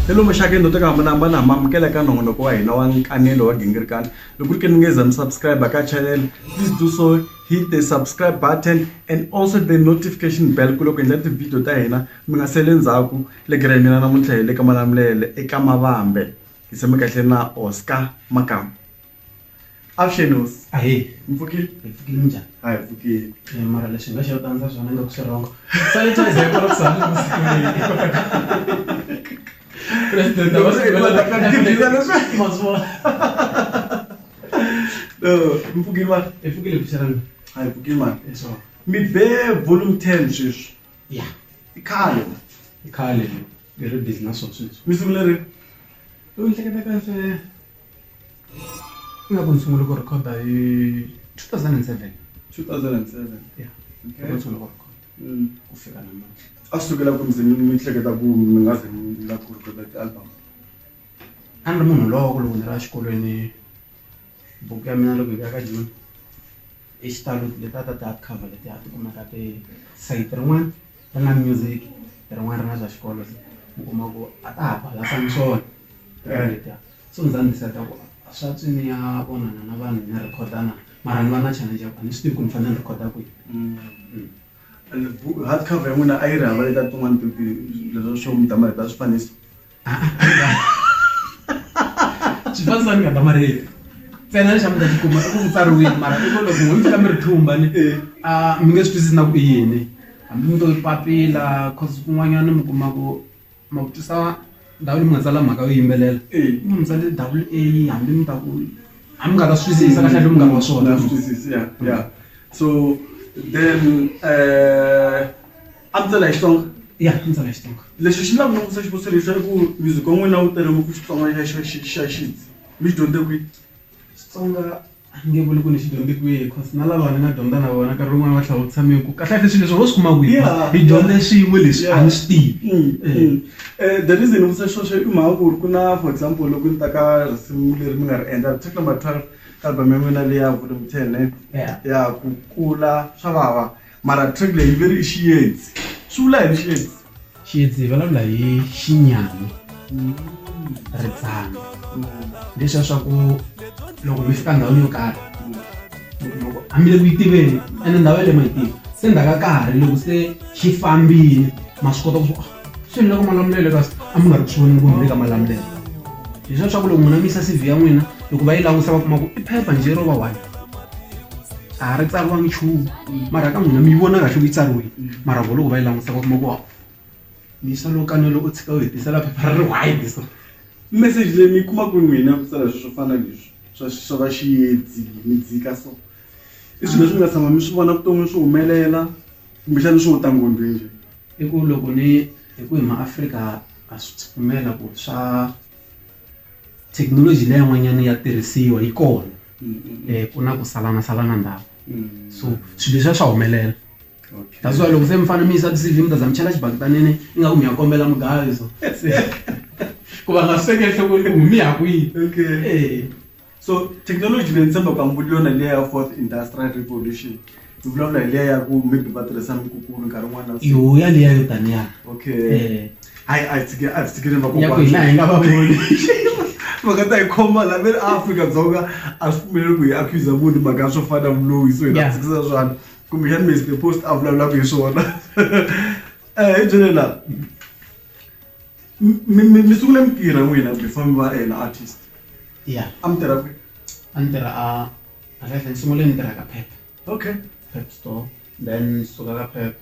ni lomu xakeni lo teka hambanahambana ma amukela eka nongonoko wa hina wa nkanelo wa gingirikani loko ri ke ni nge za mi subscribe ka channel please do so hit the subscribe button and also the notification bell ku loko endla ti-video ta hina mi nga sele ndzhaku le gira hi mina namuntlha hi le ka malamulele eka mavambe hi tshame kahle na oscar makamu Avuxenos. Ahee. Mi pfukile? Hi pfukile minjhani? A hi pfukile. Eh, mara lexi nga xi yo tandza swona nga ku swi rongo. Sanitizer yi kona ku sala loko siku leyi. President a va swi vula ta ka tigila leswi. Mazwa. No, mi pfukile ma. Hi pfukile bixarana. A hi pfukile ma. Eh, so. Mi be volume 10 sweswi. Ya. I khale. I khale. Ni ri busy na swona sweswi. Mi sungule ri? U hleketa kahle. ingaku ni sungule ku rhekhoda hi 2007 2007 ya Okay. ni sungule ku rhekhoda Mm. ku fika namuntlha a swi sukela ku ndzi mi mi hleketa ku mi nga ze mi la ku rhekhoda ti-album a ni ri munhu loko loko ni ri exikolweni buku ya mina loko yi ya ka joni i xitalo leta ta ti-hard cover leti a ti kumaka ti sayiti rin'wana ri nga music rin'wana ri nga swa xikolo se u kuma ku a ta ha balance ni swona tirhelo letiya so ni za ni decide ku swa tswi ni ya vonana na vanhu ni record-a na mara ni va na challenge ya ku a ni swi tivi ku ni fanele ni record-a kwihi and hard cover ya n'wina a yi ri hava letiya tin'wani leswa swo mi damarhetiwa swifaniso. xifaniso ni nga ta marito ntsena lexi a mi ta xi kuma i ku tsariwile mara i ku loko n'wi fika mi ri thumba ni a mi nge swi twisisi na ku i yini hambi mi to papila cause kun'wanyana mi kuma ku ma ku twisa ndhawu leyi mi nga tsala mhaka yo yimbelela mi mi tsale double a hambi mi ta ku a mi nga ta swi twisisa kahle hambi mi nga ri wa swona so then um A ndzi tsala hi Xitsonga? Ya, a ndzi tsala hi Xitsonga. Lexi xi lava ni vutisa xivutiso lexi i ku music wa n'wina wu tele ngopfu Xitsonga xa xa xa xa xintu mi xi dyondze kwihi? Xitsonga a ni nge vuli ku ni xi dyondze kwihi cause na lava ni nga dyondza na vona nkarhi wun'wani va tlhela va vutisa me ku kahlekahle swilo leswi ho swi kuma kwihi Yeah, hi yeah. dyondze swin'we leswi a ni swi tivi. Mm, Eh. mm. Eh, the reason ni vutisa sweswo i mhaka ku ri ku na for example loko ni ta ka risimu leri mi nga ri endla track number twelve ka album ya n'wina leyi ya volume ten ne Yeah. ya ku kula swa vava mara track leyi yi veri i xiyedzi swi vula yini xiyedzi xiyedzi hi vulavula hi xinyami mm. ritsana mm. leswi ya swa ku loko mi fika ndhawini yo karhi loko hambiloko yi tiveni ene ndhawu ya le ma yi tivi se ndzhaka karhi loko se xi fambile ma swi kota ku swilo loko malamulelo kasi a mi nga ri ku swi voneni ku mi le ka malamulelo hi swa swa ku loko n'wina mi yisa cv ya n'wina loko va yi langusa va kuma ku i phepha njhe ro va one a ha ri tsariwangi nchumu mara ka n'wina mi yi vona kahle ku yi tsariwile mara vo loko va yi langusa va kuma ku mi yisa lo kanelo u tshika u hi tisela phepha ri ri wide so message leyi mi yi kuma ku n'wina ku tsala swi swo fana leswi swa swa va xiyedzi mi dzika so i swilo leswi mi nga tshama mi swi vona vuton'wini swi humelela Kumbexana swo ta ngondwi njhe. I ku loko ni hi ku hi maAfrika ha swi pfumela ku swa thekinoloji leyi yin'wanyana ya tirhisiwa yi kona um ku na ku salana salana ndhawu so swilo leswiya swa humelela that's why loko se mi fanele mi yisa ti-C_V mi ta za mi chela xibaketaneni ingaku mi ya kombela mugayo so ku va nga swi tekeli enhlokweni ku mi ya kwihi e. so thekinoloji leyi ni tshembaka mbuli yona hi liya ya fourth industrial revolution ni vulavula hi liya ya ku maybe va tirhisa mikukulu nkarhi wun'wana na yo ya liya yo taniya okay eh. hayi a hi tshike a hi tshikile vakokwana hi nga va voni mhaka ta hi khoma la ve ri afrika-dzonga a swi pfumeleli ku hi accusa munhu mhaka ya swo fana vuloyi so hi nga tshikisa swani kumbexani mesi the post a vulavulaka hi swona um hi byelela mi mi mi sungule mi tirha n'wina before mi va an artist ya a mi tirha kwihi a ni tirha a a kahle ni sungule ni tirha ka pep okay pep store then ni suka ka pep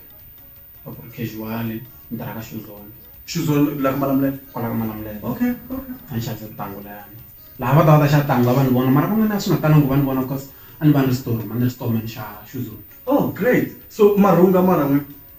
a ku ri casual ni tirha ka xuzone xuzone la ka malamulelo kwala ka malamulelo okay okay a ni xavisa tintangu layani laha va ta va ta xa tangu a va ni vona mara van'wana a swi nga talangi ku va ni vona because a ni va ni ri storm a ni ri storman xa xuzone oh great so marhunga mara n'wina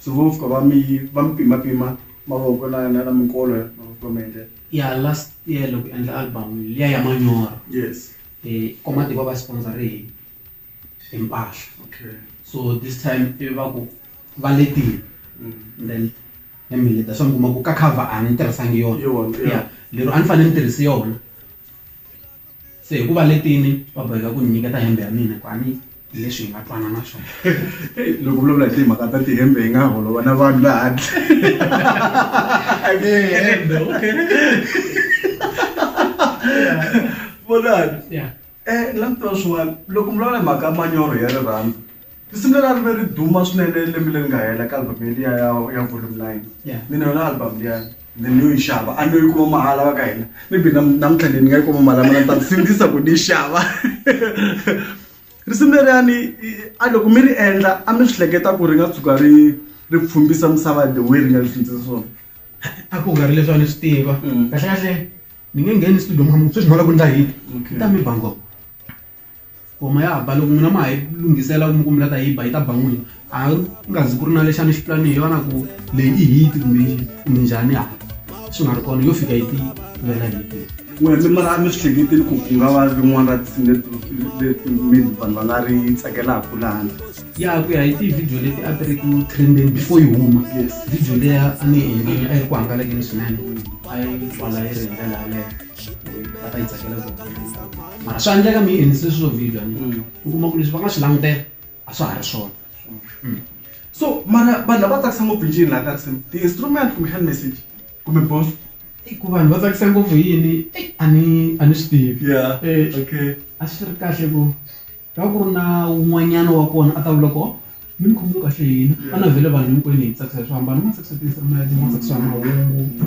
so vo fika va mi va mi pimapima mavoko na na na minkolo ya mavoko va mi endlela ya last year loko hi endla album liya ya manyoro yes eh komati va va sponsor hi hi mpahla okay so this time ivi va ku va letile mm. and then ya mi leta swa mi kuma ku ka cover a ni tirhisangi yona Yona, yeah. ya lero a ni fanele ni tirhise yona se hi ku va letini va boheka ku ni nyiketa hembe ya mina kwani hi leswi hi nga twana na swona loko vulavula hi timhaka ta tihembe hi nga holova na vanhu laha handle okay vonani um langutela swin'wana loko mi vulavula hi mhaka manyoro ya rirhandzu Risimu leri a ri ve ri duma swinene lembe leri nga hela ka album liya ya ya volume nine Yeah. mina yona album liya ni ni yo yi xava a ni yo yi kuma mahala va ka hina maybe nam- namuntlha leyi ni nga yi kuma mahala mina ni ta sindzisa ku ni yi xava risimu leriyani i- a loko mi ri endla a mi swi hleketa ku ri nga tshuka ri ri pfumbisa misava the way ri nga ri pfumbisa swona a ku nga ri leswi a ni swi tiva Mm. kahlekahle ni nge ngheni studio mukhamu sweswi ni nga la ku ndla hit Okay. ta mi bango Ngoma ya ba loko n'wina ma ha yi lunghisela kumbe kumbe la ta yi ba yi ta ba n'wina a nga zi ku ri na lexi a ni xi pulanile yona ku leyi i hit kumbe kumbe njhani a swi nga ri kona yo fika yi ti vela hit wena mi mara mi swi hleketile ku ku nga va rin'wana ra tinsimu leti leti maybe vanhu va nga ri tsakelaka lani ya ku ya hi ti-video leti a ti ri ku trendeni before yi huma Yes. video leya a ni yi endlile a yi ri ku hangalakeni swinene a yi twala yi ri hi ndlela yaleyo va ta yi tsakela mara swi endleka mi yi endlise swilo video mm. u kuma ku leswi va nga swi langutela a swa ha ri swona mm. so mara vanhu lava tsakisa ngopfu njini laha ka risimu ti-instrument kumbe hand message kumbe boss ku vanhu va tsakisa ngopfu yini a ni a ni swi tivi eh, a swi ri kahle ku ta ku ri na un'wanyana wa kona a ta vula ko mi ni khomiwe kahle hina a na vhele vanhu hinkwenu hi tsakisa hi swo hambana ma tsakisa ti-instrument ma tsakisa mahungu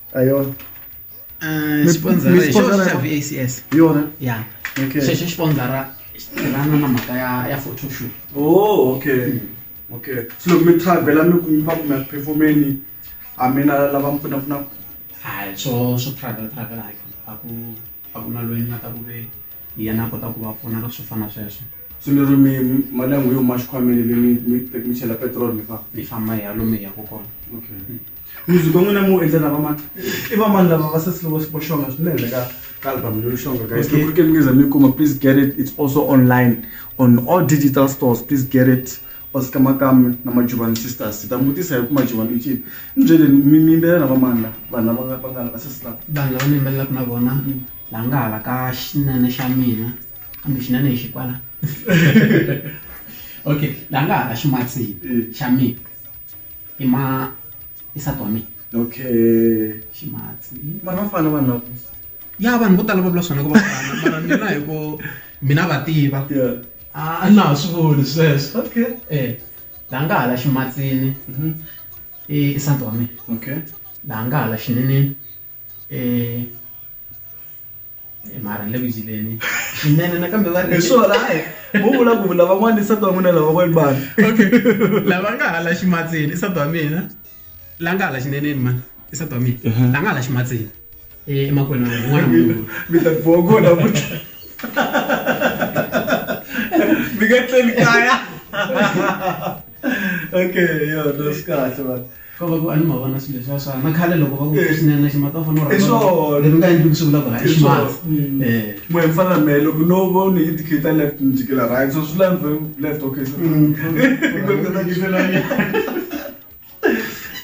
Ayo. Uh, sponsor is VACS. Yona. Yeah. Okay. Sheshe sponsor lana na mhaka ya ya photo shoot. Oh, okay. Mm. Okay. So loko mi travela mi kuma ku mi performeni a mi na lava mi pfuna pfuna. Hayi, so so travel travel hayi. Aku aku na loyi ni nga ta ku ve yena a kota ku va pfuna ka swo fana sweswo. So lero mi mali yangu yo ma xikhwameni mi mi mi te- mi chela petrol mi famba mi famba hi halome hi yaka kona okay music wa n'wina mi wu endla na vamani i vamani lava va sesi lovo vo xonga swinene ka ka album leyo xonga guys Okay. loko ke mi ngeza mi kuma please get it it's also online on all digital stores please get it osika makame na majuvani sisters ta mutisa hi ku majuvani ichini ni byeleni mi mi yimbelela na vamani la vanhu lava nga- va nga la va sesi lava vanhu lava ni yimbelelaka na vona la nga hala ka xinene xa mina kambe xinene hi xikwala okay la nga ha ximatsini eh. xa mina i ma i sati wa mina okay ximatsi vanhu va fana vanhu lavo ya vanhu vo tala va vula swona ku va fana mara mina hi ku mina va tiva a na ha swi voni sweswo okay eh la nga hala ximatsini mhm. i sati wa mina okay la nga hala xineneni mara ni le ku yileni swinene nakambe va ri swona hayi vo vula ku lavan'wana i sati wa n'wina lavan'wana vanhu okay lava nga hala ximatsini i sati wa mina la nga hala xineneni mani i sati wa mina la nga hala ximatsini emakwenu n'wana munhu mi ta boha kona futhi mi nga tleli kaya okay yo no swi kahle man ka va ku a ni ma vona swilo leswa swana na khale loko va ku Eh. swinene ximata u fanele u I rhandza swona. leswi nga endli ku swi vula ku hayi ximata Mm. Eh. Mwe mfana me loko no vo ni indicator left ni jikela right so swi lani vhe left okay so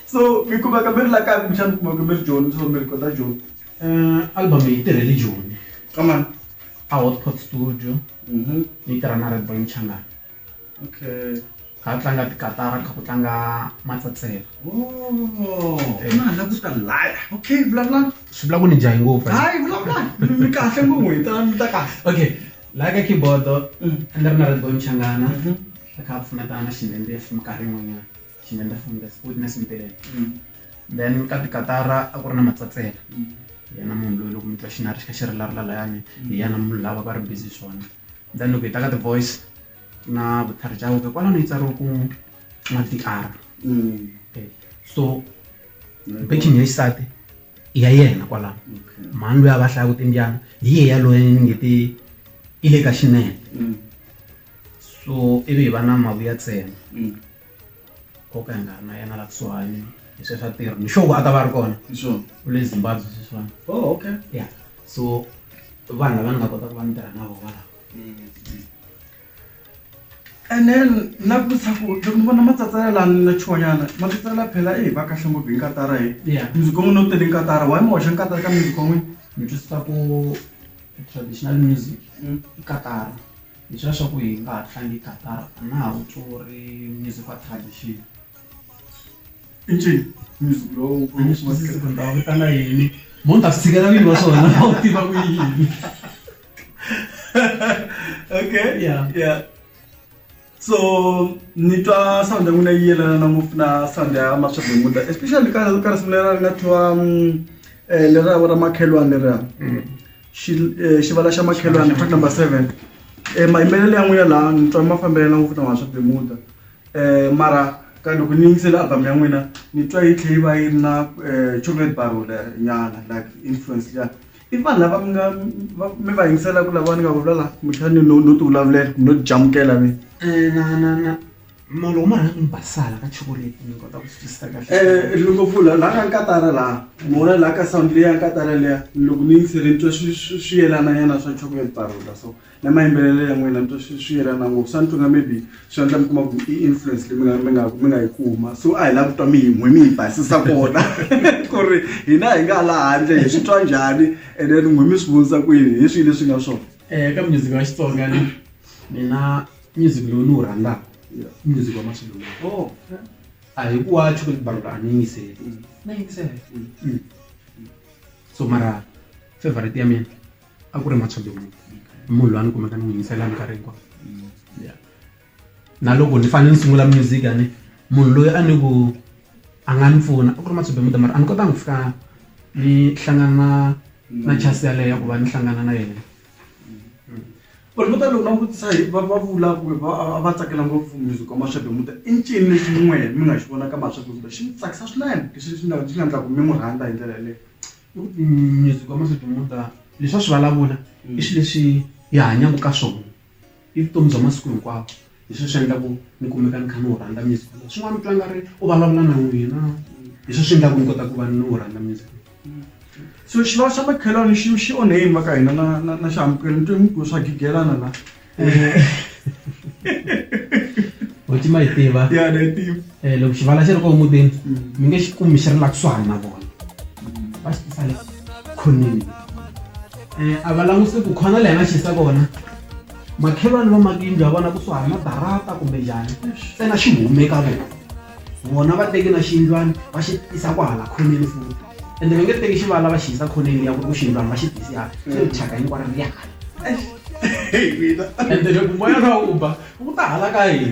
so mi kumeka mi ri la kaya kumbexana mi kumeka mi ri joni so mi ri kota joni Eh, album yi tirhele joni amani a hotpot studio yi tirha na red boy mchangana okay kha tlanga tikatara kha ku tlanga matsatsela oh, eh. na ku ta laya okay vulavula swi vula ku ni jahi ngopfu hayi vulavula mi kahle ngopfu hi ta mi ta kahle okay laya ka keyboard mm. a ni ri na redbon changana mm-hmm. a kha a pfuneta na xindende ya fumi karhi yin'wanyana xindende fumi that's good na simpelela mm. then ka tikatara a ku ri na matsatsela mm. yena munhu loyi loko mi twa xinari xi kha xi rilarila layani hi yana munhu lava va ri busy swona then loko hi ta ka ti-voice na vutlhari bya wena kwalano yi tsariwa ku madr mm. so backing ya xisati i ya yena kwalano mhani loyi a va hlayaku timbyana hi ye yaloye ni nge ti i le ka xinene mm. so ivi hi va na mavuya tsena mm. koka hi nga ri na yena la kusuhani hi sweswi a tirhi ni xoku a ta va ri kona sure u le zimbabwe sweswiwani oh okay ya so vanhu lava ni nga kota ku va ni tirha na vona lava and then na ku vutisa ku loko ni vona matsatsela lani na chuwanyana matsatsela phela i hi va kahle ngopfu hi nkatara hi ya music wa n'wina u tele nkatara why mi hoxa nkatara ka music wa n'wina ni twisisa ku traditional music Mm. i katara Leswiya swa ku hi nga ha tlangi Qatar a na ha wu tswuri music wa tradition i ncini music lowu a ni swi twisisi ku ni ta va vitana yini mo ni ta swi tshikela vini va swona va wu tiva ku yini okay Yeah. yeah so ni twa sound ya n'wina yi yelana na ngopfu na sound ya maswabemuda especially ka ka risimu lera ri nga thiwa um, eh, lera ra makhelwani leriya xi xivala xa makhelwani fact number seven um mayimbelelo ya n'wina laha ni twa ma fambelana ngopfu na wona swa bemuda um mara ka loko ni yingisele album ya n'wina ni twa yi tlhe yi va yi ri na um chocolate barole nyana like influence liya i vanhu lava mi nga mi va yingiselaka lava ni nga vulala kumbexani no no ti vulavulela no jamukela mina na na na molo huma rhanga mi basala ka chokoleti ni kota ku swi twisisa kahle eh, eh, loko pfula laha ka nkatara laha mona laha ka sound leya nkatara leya loko ni yingisele ni twa swi yelana nyana swa chocolate barula so na mayimbelelo ya n'wina ni twa swi yelana ngopfu swa ni twinga maybe swi endla mi kuma ku i influence leyi mina mi nga mi nga yi kuma so a hi lavi ku twa mi yin'we mi yi basisa kona ku ri hina hi nga laha handle hi swi twa njhani and then n'we mi swi vonisa kwini hi swihi leswi nga swona um eh, ka music wa xitsonga ni mina music lowu ni wu rhandzaka i music wa masiku lama oh a hi ku wa chocolate barolo a ni yingiseli Mm. na yingisela Mm. Mm. so mara favorite ya mina a ku ri machado munhu munhu loyi a ni kumeka ni n'wi yingisela minkarhi hinkwayo Mm. Yeah. na loko ni fanele ni sungula music a ni munhu loyi a ni ku a nga ni pfuna a ku ri machado muda mara a ni kotanga ku fika ni hlangana na na chance yaleyo ya ku va ni hlangana na yena vanhu vo tala loko va n'wi vutisa hi va va vula kumbe va a va tsakela ngopfu music wa mashavi muta i ncini lexi n'we mi nga xi vonaka mashavi muta xi mi tsakisa swinene lexi xi nga xi nga endlaku mi n'wi rhandza hi ndlela yaleyo music wa mashavi muta leswi a swi vulavula i xi lexi hi hanyaku ka swona i vutomi bya masiku hinkwawo Hi swona swi endlaku ni kumeka ni kha ni wu rhandza music wolowo swin'wana mi twa nga ri u vulavula na n'wina hi swona swi endlaku ni kota ku va ni wu rhandza music so xivava xa makhelwani xi xi onhe yini va ka hina na na na xihambukelo ni twe mi ku swa gigelana la Hoti ma yi tiva ya na yi tiva eh loko xivala xi ri kona mutini mi nge xi kumi xi ri la kusuhani na vona va xi tisa le khoneni eh a va langutisi ku khona leyi a nga xi yisa kona makhelwani va maka yindlu ya vona kusuhani na darata kumbe njhani ntsena xi hume ka vona vona va teki na xiyindlwana va xi tisa ku hala khoneni futi ende va nge teki xivala va xi yisa khoneni ya ku ku xiyindlwana va xi tisi hala xi ri thyaka hinkwaro ri hala ende loko moya lowu u ba wu ta hala ka hina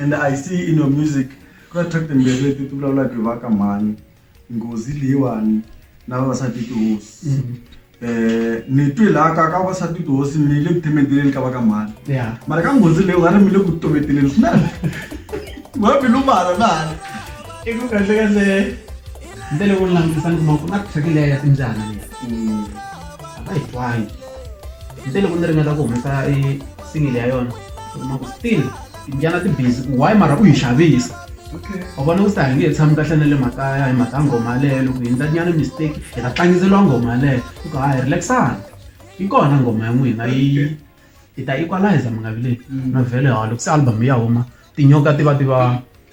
and i see in your music ku na track timbirhi leti ti vulavulaka hi va ka mhani nghozi leyiwani na vavasati tihosi mm. eh ni twi laha ka ka vavasati tihosi mi le ku themeteleni ka va ka mhani mara ka nghozi leyi nga ri mi le ku tometeleni swinene wa bilu mhala na hala i ku kahle kahle ndele ku langutisa ni kuma ku na track leya ya timbyana leyi mm. a va yi twangi se loko ni ringeta ku humesa e single ya yona kuma ku still timbyana ti busy ku why mara u yi xavisa u vona ku se hi nge he tshami kahle na le makaya hi mhaka nghoma yaleyo loko hi endlanyana mistake hi ta tlangiseriwa nghoma yaleyo ku ka hi relaxana yi kona nghoma ya n'wina yi hi ta equalizer mingavileni na vhele ha loko se album ya huma tinyoka ti va ti va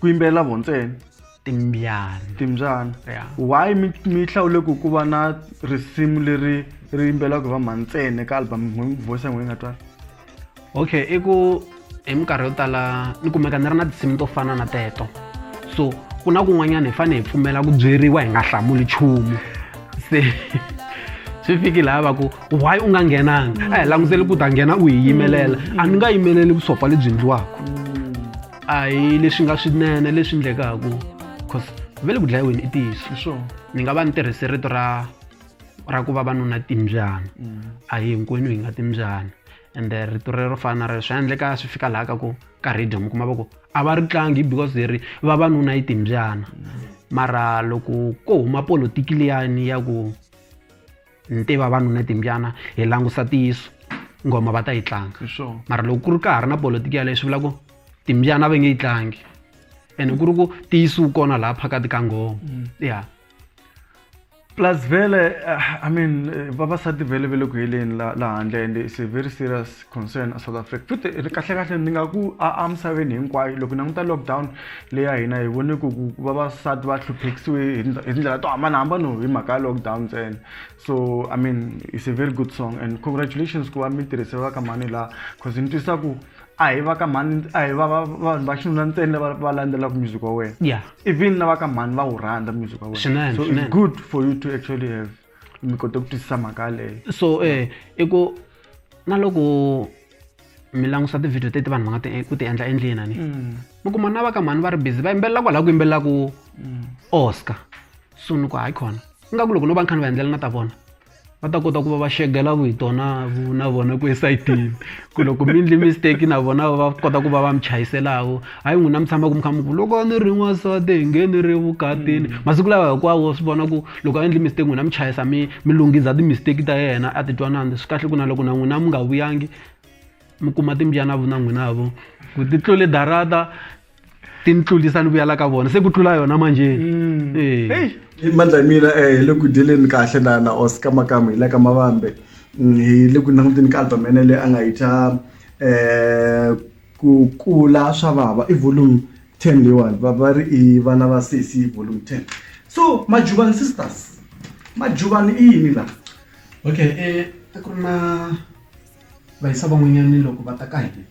ku yimbelela vo ntsena timbyana timbyana yeah. why mi mi hlawule ku ku va na risimu leri ri yimbelaka va mhani ntsena ka album voice ya n'wina nga twala okay i ku hi minkarhi yo tala ni kumeka ni ri na tinsimu to fana na teto so ku na kun'wanyana hi fanele hi pfumela ku byeriwa hi nga hlamuli nchumu se swi fiki laha va ku why u nga nghenanga a hi languteli ku ta nghena u hi yimelela a ni nga yimeleli vusopfa lebyi ndliwaka a hi leswi nga swinene leswi endlekaka cause ve le ku dlayiweni i ntiyiso ni nga va ni tirhise rito ra ra ku va vanuna timbyana mm. a hi hinkwenu hi nga timbyana and eh, rito rero fana rero swi endleka swi fika laha ka ku ka radio mi kuma va ku a va ri tlangi because leri vavanuna yi timbyana mara loko ko huma politiki liyani ya ku ntiva vanhu ni timbyana hi langusa tiyiso ngoma va ta yi tlanga mara loko ku ri ka ha ri na politiki yaleyo swi vula ku timbyana va nge yi tlangi ene ku ri ku tiyisiwu kona laha phakati ka ngoma mm. ya plus vele eh, i mean eh, vavasati vele ve le ku heleni la handle and is a very serious concern a south africa futhi kahlekahle ni nga ku a emisaveni hinkwayo loko languta lockdown leyi ya hina hi vone ku ku vavasati va hluphekisiwe hi tindlela to hambanahambana hi mhaka ya lockdown ntsena so i mean it's a very good song and congratulations ku va mi tirhise va ka mhani laha cause ni twisa ku a hi va ka mhani a hi va vanhu va xinuna ntsena va va landzelaka music wa wena yeah even na va ka mhani va wu rhandza music wa wena so it's good for you to actually have mi kote ku twisisa mhaka yaleyo so eh i ku na loko mi langusa tivhidiyo teti vanhu va nga ti- ku ti endla endleni ani Mm. mi kuma na va ka mhani va ri busy va yimbelela kwalaho ku yimbelela ku Mm. oscar so ni ku hayi khona ingaku loko no va ni kha ni va endlela na ta vona va ta kota ku va va xegela vito na vu- na vona ku esayitini ku loko mi endli mistake na vona va kota ku va va mi chayiselako hayi n'wina mi tshama ku mi kha mi ku loko a ni ri n'wansati hi nge ni ri vukatini masiku lawa hinkwawo swi vona ku loko a endli mistake n'wina mi chayisa mi mi lunghisa ti-mistake ta yena a titwanani swi kahle ku na loko na n'wina mi nga vuyangi mi kuma timbyana vu na n'wina vo ku ti tlule darata ti ni tlulisa ni vuyela ka vona se ku tlula yona manjeni Eh. Hey. Hi mandla mina eh hi le ku dyeleni kahle na na Oscar Makamu hi le ka Mavambe Mm, hi le ku languteni ka album ya yena leyi a nga yi thya eh Ku kula swa vava i volume 10 leyiwani va va ri i vana va sesi i volume 10 so majuvani sisters majuvani i yini laha okay i a ku ri na vayisa van'wanyani loko va ta ka hina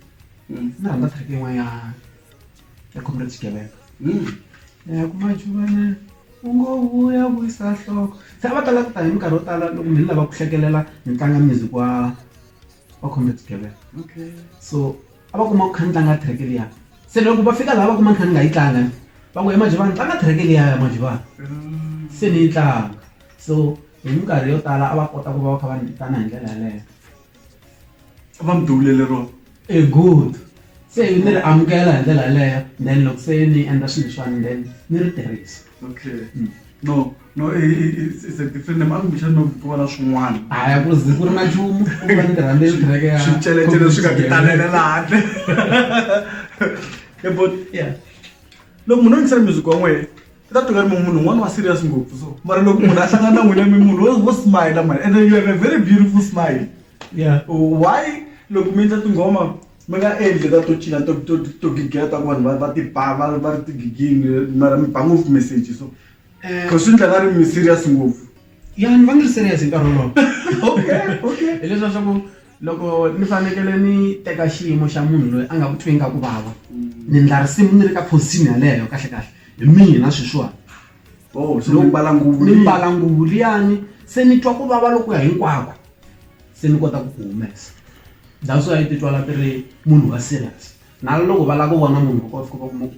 ni rhandza track yin'wana ya ya comrade xigevenga ya ku majuvana u ngo vuya vuyisa nhloko se a va tala ku ta hi minkarhi yo tala loko mi ni lava ku hlekelela ni tlanga music wa. va khome tigevenga okay so a va kuma ku kha ni tlanga track liya se loko va fika laha va kuma ni kha ni nga yi tlanga va ku emajivani tlanga track liya ya majivani mm. se ni yi tlanga so hi minkarhi yo tala a va kota ku va va kha va ni vitana hi ndlela yaleyo va mi duvulele rona e good se ni ri amukela hi ndlela yaleyo then loko se ni endla swilo leswiwani then ni ri tirhisa okay mm. no No, i- i- i- it's, it's a different name. Aku kushani no kuva na swin'wana. haya ku zi ku ri na nchumu ku va ni tirhande yi tirheke ya Switsheletshele swi nga ti talela laha handle. Yeah, but Yeah. loko munhu a yingisela music wa n'wehe i ta tweka ri mi munhu un'wana wa serious ngopfu so mara loko munhu a hlangana na n'wina mi munhu wo- wo smile mani and then you have a very beautiful smile Yeah. why loko mi endla tinghoma mi nga endli ta to cina to- to- to gigela ta ku vanhu va- va ti ba va va ri tigigini mara mi ba ngopfu message so ku swi ndla va ri mi serious ngopfu ya ni va ni ri serious hi nkarhi wolowo okay okay hileswa swa ku loko ni fanekele ni teka xiyimo xa munhu loyi a nga ku twi nga ku vava ni ndla risimu ni ri ka phosini yaleyo kahle kahle hi mina sweswiwani oh so ni mbala nguvu ni mbala nguvu liyani se ni twa ku vava loko ya hinkwako se ni kota ku ku humesa that's why ti twala ti ri munhu wa serious na loko va lava ku vona munhu va kota ku va kuma ku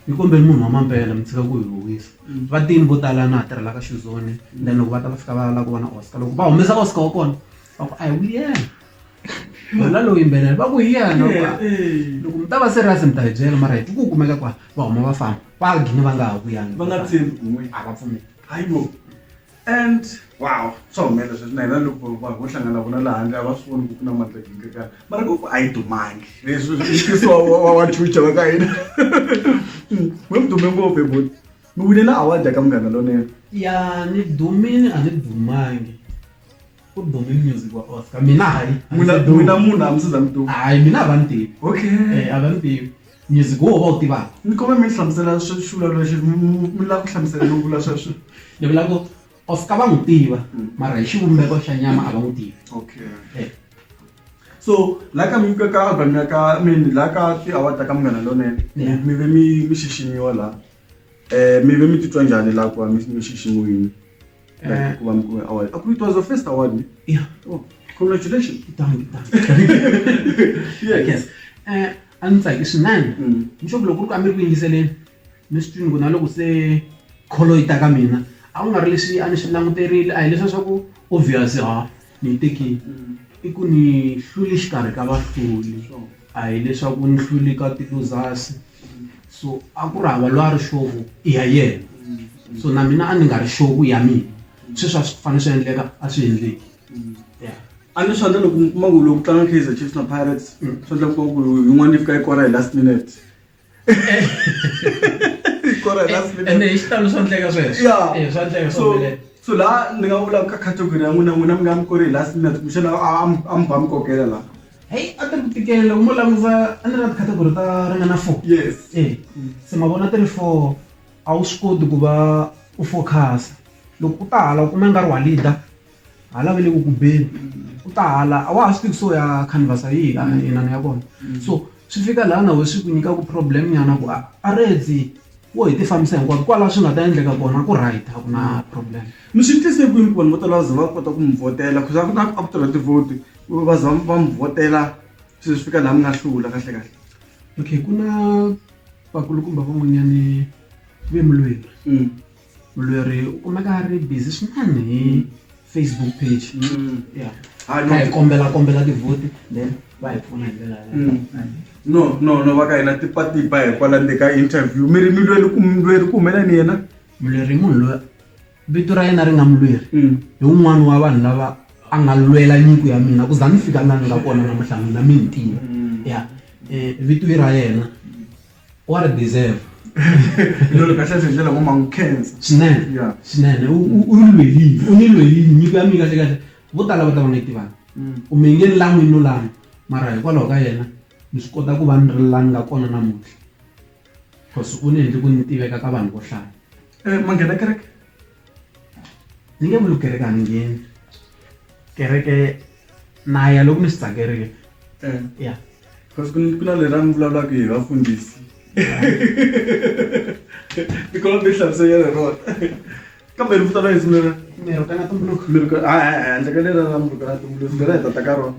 ni kombe munhu wa mampela mi tshika ku hi huwisa mm. vatini vo tala na ha tirhela ka xizoni mm. then loko va ta va fika va lava ku vona oscar loko va humesa oscar wa kona va ku a hi wuyena wena lowu yimbelela va ku hi yena loko mi ta va serious mi ta hi byela mara hi ti ku kumeka kwa va huma va famba va gine va nga ha vuyanga va nga tshembi a va pfumeli hayibo and wow swa humelela sweswi na hina loko va ho hlangana vona laha handle a va swi voni ku ku na mandla ginkekana mara ku a yi dumangi leswi mfisi wa wa chucha va ka hina mi mi dume ngopfu eboti mi winela award ya ka munghana lonene ya ni dumile a ni dumangi ku dume music wa oscar mina hayi n'wina munhu a mi siza mi duma hayi mina a va ni tivi okay eh, a va ni tivi music wo va wu tivaka ni kome mi hlamusela swivulavula xi mi lava ku hlamusela no vula sweswo ni vula ku oscar va n'wi tiva mm. mara hi xivumbeko xa nyama a va n'wi tivi okay eh. so la ka mi ka album ya ka mi la ka ti award ta ka munghana lonene mi ve mi mi xiximiwa la eh mi ve mi titwa njhani la ku mi xiximiwini Eh. kuba mkuu wa award. Aku it was the first award. ne? Yeah. Oh, congratulations. Thank, thank. Yes. yes. Eh, a ndzi tsaki swinene Mm. nxovo loko ku ri ku a mi ri ku yingiseleni mi swi twini ku na loko se kholo yi ta ka mina a ku nga ri leswi a ni swi languterile a hi leswiya swa ku obvious ha Ni yi tekile. I ku ni hlule exikarhi ka vahluri, a hi leswaku ni hlule ka ti-losers. So a ku ri hava loyi a ri sure ku i ya yena. So na mina a ni nga ri sure ku i ya mina. Sweswo a swi fanele swi endleka, a swi endleki. Ya. A ni swi rhandza loko mi kuma ku loko ku tlanga Kaizer Chiefs na Pirates, swa endleka u kuma ku yin'wana yi fika yi kora hi last minute. ene hi xitalo swa ndleka sweswoswa ndleka so so laha ni nga vulaka ka category ya n'wina n'wina mi nga mi ku ri hi last minute kumbexana a mi ba mi kokela laha heyi a ti ri ku tikela u mo langusa a ni ri na ticategory ta ringana four yes e se ma vona ti ri four a wu swi koti ku va u focus-a loko u ta hala u kuma i nga ri wa leader Hala va le ku ku beni ku ta hala a wa ha swi tivi ku se u ya khanvasa yihi lana inana ya kona so swi fika laha na wena swi ku nyikaka problem nyana ku a a redzi wo hi ti fambisa hinkwavo kwalaho swi nga ta endleka kona ku right a ku na problem. Mi swi tise kwini ku vanhu vo tala va za va kota ku mi vhotela coz a ku na a ku tirha tivhoti va za va mi vhotela se swi fika laha mi nga hlula kahle kahle. Okay ku na vakulukumba van'wanyani ve mulweri. mulweri u kumeka a ri busy swinene hi facebook page mm. ya hi ah, kombela kombela tivhoti then va hi pfuna hi ndlela mm. no no no va ka hina tipatipa hikwala nde ka interview mi ri milweri ku mulweri ku humela ni yena mulweri i munhu loyi vito ra yena ri nga mulweri mm. hi un'wana wa vanhu lava a nga lwela nyiko ya mina ku za ni fika lani nga kona namuhla mina mi ni tiva ya um vito i ra yena what a deserve lolo kahle kahle ndlela ngoma ngikhensa swinene Yeah. swinene u u- u ri lwelini u ni lwelini nyiko ya mi kahle kahle vo tala va ta va nga yi tivanga Mm. u mi nge ni lan'wi no lan'wi mara hikwalaho ka yena ni swi kota ku va ni ri la ni nga kona namuntlha cause u ni endli ku ni tiveka ka vanhu vo hlaya Eh, manghena kereke ni nge vuli kereke a ni ngheni kereke na ya loko ni swi tsakerile eh. ya because ku na leri a mi vulavulaka hi vafundhisi tikolwa ti hlamuseyela rona kambe ri vito ra yesu lera mirukana tumbuluko mirukana a handle ka lera ra mirukana tumbuluko lera hi tata ka rona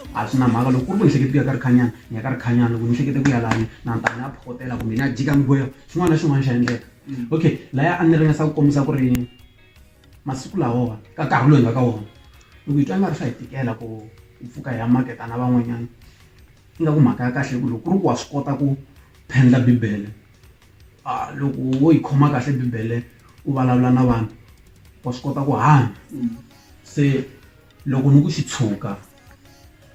A swi na mhaka loko ku ri ku ni hlekete ku ya ka Rikhanyana ni ya ka Rikhanyana loko ni hlekete ku ya lani na ta ni ya phokotela kumbe ni ya jika minkwerhu xin'wana na xin'wana xa endleka okay laya a ni ringesa ku kombisa ku ri masiku lawa ka nkarhi lowu hi nga ka wona loko hi twa nga ri swa hi tikela ku hi pfuka hi ya maketa na van'wanyana ingaku mhaka ya kahle ku loko ku ri ku wa swi kota ku phendla bibele a loko wo yi khoma kahle bibele u vulavula na vanhu wa swi kota ku hanya se. Loko ni ku xi tshuka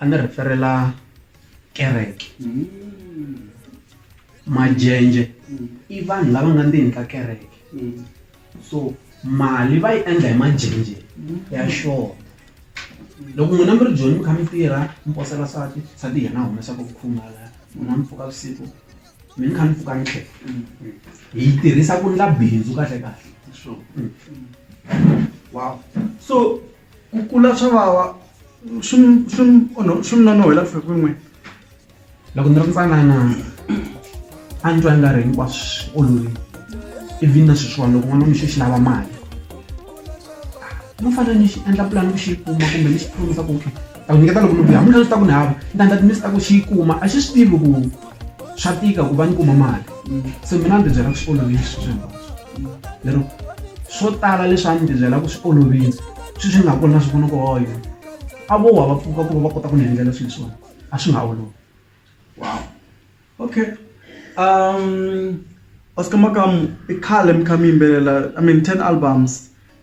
a ni rheferela kereke majenje i vanhu lava nga ndzeni ka kereke so mali va yi endla hi majenje ya xona loko n'wina mi ri joni mi kha mi tirha mi posela nsati nsati yena a humesaka vukhuma laya n'wina mi pfuka vusiku mi ni kha ni pfuka ni tlhela hi yi tirhisa ku ndla bindzu kahle kahle so. Ku kula swa vava swi swi swi mi nonon'hwela ku fika kwini loko ni ri ntsanana a ni twa i nga ri hinkwaswo swi olovile ivi na sweswiwani loko n'wana mixo xi lava mali no fanele ni xi endla pulani ku xi yi kuma kumbe ni xi promise-a ku okay ni ta ku nyiketa loko ni vuya hakunene swi ta ku ni hava ni ta endla ku ni ta ku xi yi kuma a xi swi tivi ku. swa tika ku va ni kuma mali se mina ni tibyela ku swi olovile swi swi lero swo tala leswi a ni tibyela ku swi olovile swi swi nga kona swi vona ku hoyo a vo wa va pfuka ku va va kota ku ni endlela swilo swona a swi nga olovi wow okay um oscar makamu i khale mi kha mi yimbelela i mean ten albums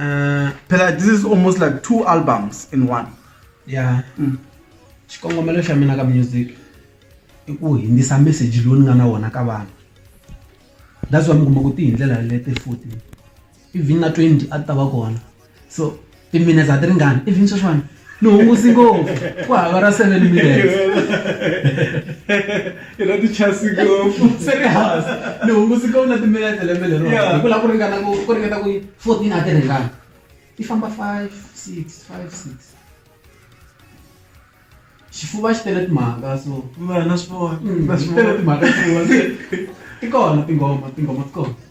Uh, phela this is almost like two albums in one ya mm. xikongomelo xa mina ka music i ku hindzisa message lowu ni nga na wona ka vanhu that's why mi kuma ku ti hi ndlela lete futhi even na 20 a ti ta va kona so timinutes a ti ringani even sweswiwani ni hungusi ngopfu ku hava ra seven minutes i ra tichasi ngopfu se ri hansi ni hungusi ngopfu na timinete lembe lero hi ku lava ku ringana ku ku ringeta ku fourteen a ti ringana i famba five six five six xifuva xi tele timhaka so na swi vona na swi tele timhaka xifuva ti kona tinghoma tinghoma ti kona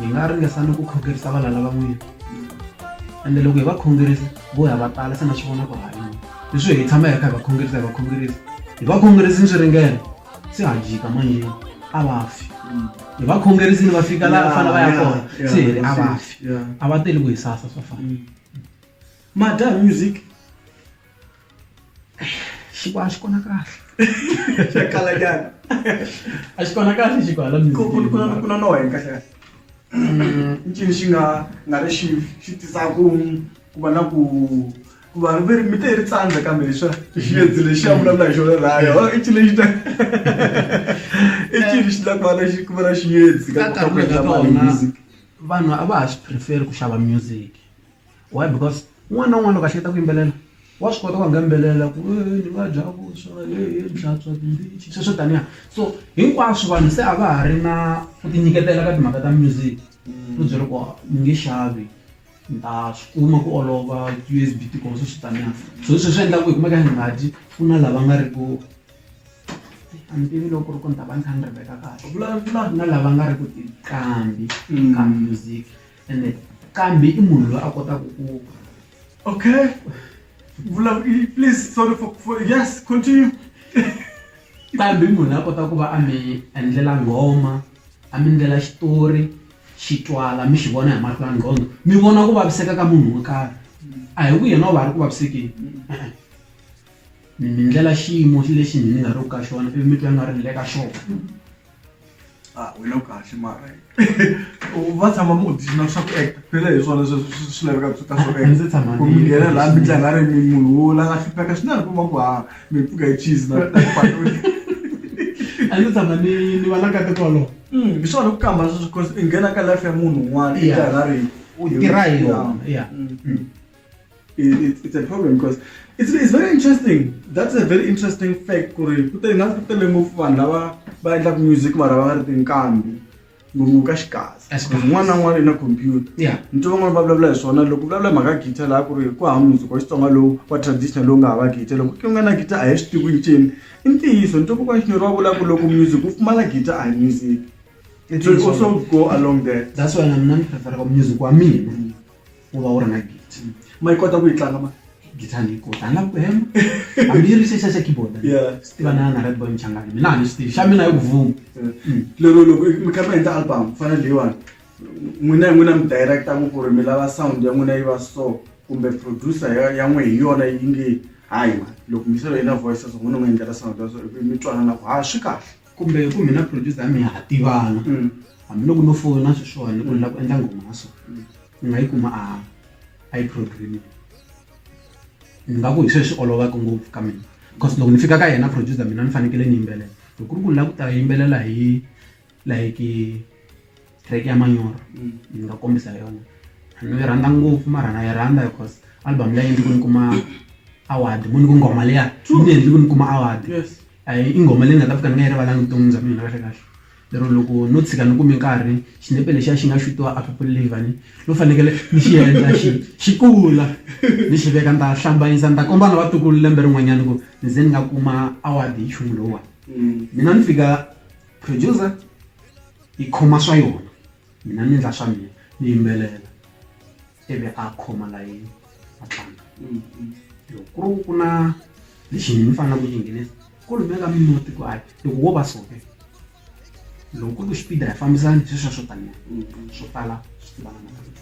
hi nga ringesa ni ku khongerisa vana lavan'wini ende loko hi va khongerisa vo ya va tala se na swi vona ku halini leswi hi tshama hi ri kha hi va khongerisa hi va khongerisa hi va khongerisi ni swi ringela se ha jika manjeni a va fi hi va khongerisini va fika laha va fanele va ya kona se hi ri a va fi a va teli ku hi sasa swa fana madya music xikwala xi kona kahle xa kala nyana a xi kona kahle xikwala ku ku ku ku na no henhla kahle i cini xi nga nga ri xi xi tisa ku ku va na ku ku va ri mi te ri tsandza kambe leswa xi yedzi lexi ya vulavula hi xona rayo i cini lexi ta i cini xi ta ku va na xi ku va na xi yedzi ka ku endla mali music vanhu a va ha swi prefer ku xava music why because un'wana na un'wana loko a hleketa ku yimbelela wa swi kota ku nga yimbelela ku ni nga dya vuswa ni hlantswa tindichi sweswo swo taniya so hinkwaswo vanhu se a va ha ri na ku ti nyiketela ka timhaka ta music u byela ku ni nge xavi ni ta swi kuma ku olova U_S_B tikuma sweswo taniya so hi swo swi endlaku hi kumeka hi nga dyi ku na lava nga ri ku a ni tivi loko ku ri ku ni ta va ni kha ni ri veka kahle vulavula na lava nga ri ku tiqambi ka music. ene kambe i munhu loyi a kotaka ku okay please sorry for, for yes continue kambe i munhu a kota ku va a mi endlela nghoma a mi ndlela xitori xi twala mi xi vona hi mahlo ya nqhondo mi vona ku vaviseka ka munhu wo karhi a hi ku yena u va ri ku vavisekeni mi ndlela xiyimo lexi mi nga ri ku ka xona ivi mi twa nga ri le ka xona ah wena u kahle mara va tshama mi audition swa ku act phela hi swona swi lavekaka swi ta swo act ku mi nghena laha mi tlanga ri mi munhu wo la nga hlupheka swinene ku ma ku ha mi pfuka hi cheese na a ndzi tshama ni ni va la ka tikolo mm, hi swona ku kamba sweswo because i nghena ka life ya munhu un'wana i tlanga ri u tirha hi yona ya mm, mm. it's a problem because it's, it's very interesting that's a very interesting fact ku ri ku tele ngazi ku tele ngopfu vanhu lava va endlaka music mara va ri tinkambi ngopfu ka xikazi un'wana na un'wana i na computer ni twa van'wana va vulavula hi swona loko vulavula hi mhaka guitar laha ku ri ku hava music wa xitsonga lowu wa traditional lowu nga hava guitar loko ku nga na guitar a hi swi tivi ncini i ntiyiso ni twa kokwana xinyori wa vula ku loko music wu pfumala guitar a hi music so also go along there that's why na mina ni preferaka music wa mina u va u ri na gita ma yi kota ku yi tlanga ma gita ni yi kota a ni lavi ku hema hambi yi ri xexa xa keyboard swi tiva na na redboy mchangani mina a ni swi tivi xa mina yi ku vuma mm. lero loko mi kha mi endla album ku fana leyiwani n'wina hi n'wina mi directaku ku ri mi lava sound ya n'wina yi va so kumbe producer ya n'we hi yona yi nge hayi ma loko miselo yi na voice so n'wina n'wi endlela sound ya so mi twanana ku ha swi kahle kumbe ku mina producer ya mina ha tivana mm. hambiloko no fona sweswiwani ku ni lava ku endla nghoma ya so ni mm. nga yi kuma a a yi programming ni nga ku hi sweswi olovaka ngopfu ka mina because loko ni fika ka yena producer mina ni fanekele ni yimbelela loko ku ri ku ni lava ku ta yimbelela hi like track ya manyoro ni nga kombisa yona ni yi rhandza ngopfu mara na yi rhandza because album leyi endli ku ni kuma award mu ni ku nghoma leya yi ni endli ku ni kuma award a yi i nghoma leyi nga ta fika ni nga yi rivalanga vuton'wini bya mina kahle kahle lero loko no tshika ni kumi nkarhi xinepe lexiya xi nga xutiwa a people livani lo fanekele ni xi endla xi xi kula ni xi veka ni ta hlambanyisa ni ta komba na vatukulu lembe rin'wanyana ku ni ze ni nga kuma award hi nchumu lowuwani mina ni fika producer yi khoma swa yona mina ni endla swa mina ni yimbelela ivi a khoma layeni a tlanga loko ku ri ku na lexi ni faneleke ku xi nghenisa ku lumeka mimuti ku a loko wo va soke loko ku ri ku xipida hi fambisana hi sweswo swo taniya swo tala swi tivana na